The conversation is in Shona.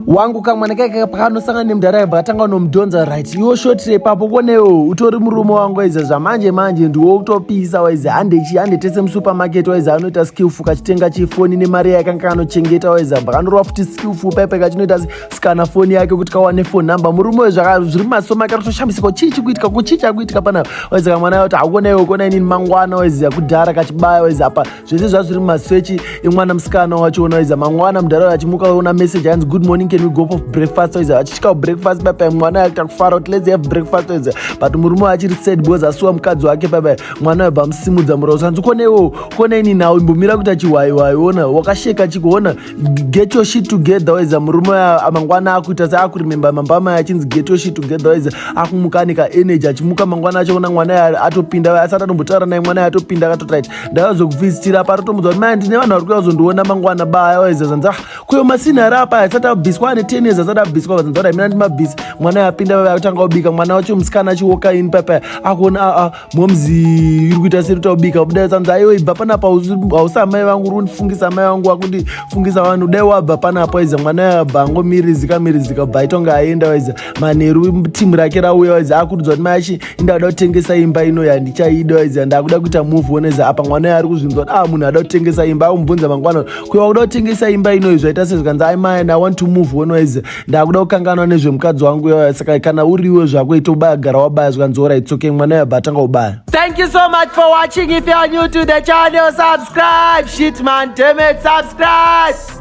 wangu kamwana kaika pakanosangana nemudhara yabva atanga unomudhonza right iwo shotire ipapo konewo utori murume wangu waiza zvamanje manje ndiwo kutopisa waiza handechi handetese musupermarket waiza anoita skillfu kachitenga chifoni nemari yake anga kanochengeta waiza bva kanorova futi skillfu pepe kachinoita sikana foni yake kuti kawane fone number murume we zviri masoma ake rotoshambisika chii chikuitika kuchii chakuitika panapa waiza kamwana yoti hakuonewo kona inini mangwana waiza kudhara kachibaya waiza apa zvese zvazviri mumaswechi emwana musikana wacho ona iza mangwana mudhara uyo achimuka ona message anzi good morning can we go for breakfast iza achitya breakfast baba mwana uyo akuita kufara kuti let's have breakfast iza but murume wayo achiri sad because asuwa mukadzi wake baba mwana uyo bva musimudza murausa anzi kone iwo kone ini nhau imbomira kuita chihwaiwai ona wakasheka chikuona get your shit together waiza murume mangwana akuita seakurememba mambo amai achinzi get your shit together waiza akumuka ane kaenergy achimuka mangwana achaona mwana yaye atopinda asati atombotaura naye mwana yaye atopinda akatotit ndakazokuvhisitira apa atotomudza kuti mai ndine vanhu vari kuuya kuzondiona mangwana baya waiza zanzi ah kuyo masinhari apa asati abviswa ane ten years asati abviswa vazanzi kuti amina ndimabvisi mwana yaye apinda vave akutanga kubika mwana wacho musikana achiwoka ini papaya akuona aa ah, ah, momzi iri kuita seri taubika kudai sanzi aiwe ibva panapa hausi amai vangu uri kundifungisa amai vangu wakuti fungisa vanhu dai wabva panapa waiza mwana yabva angomirizika mirizika bva aitonge aenda waiza manheru timu rake rauya waiza akurudzwa kuti mai achi indakuda kutengesa imba ino yandichaida waiza ndakuda kuita move wonaiza apa mwana yaari kuzvinzwa kuti ah munhu ada kutengesa imba akumubvunza mangwana kuya wakuda kutengesa imba inoyi zvaita sezvikanzi ai mai and i want to move wonaiza ndakuda kukanganwa nezvemukadzi wangu yoya saka kana uriwe zvako ita ubaya gara wabaya zvikanzi orai tsoke mwana yabva atanga ubaya thank you so much for watching if you are new to the channel subscribe shit man damn it subscribe